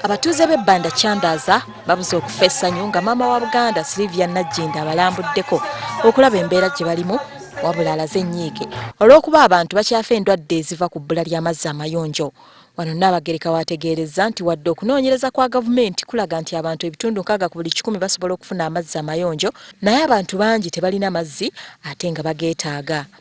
abatuuze b'e banda kyandaaza babuze okufa essanyu nga maama wa buganda silivia najjinda abalambuddeko okulaba embeera gye balimu wabula alaze ennyiike olw'okuba abantu bakyafa endwadde eziva ku bbula ly'amazzi amayonjo wano nnaabagereka waategeerezza nti wadde okunoonyereza kwa gavumenti kulaga nti abantu ebitundu nkaaga ku buli kikumi basobola okufuna amazzi amayonjo naye abantu bangi tebalina mazzi ate nga bageetaaga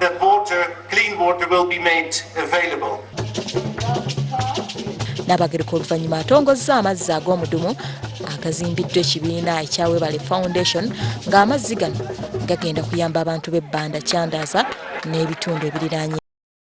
that water, clean water will be made available. Nabagereka oluvannyuma atongozza amazzi ag'omudumu agazimbiddwa ekibiina ekya Webale Foundation ng'amazzi gano gagenda kuyamba abantu b'ebbanda Chandaaza n'ebitundu ebiriraanye.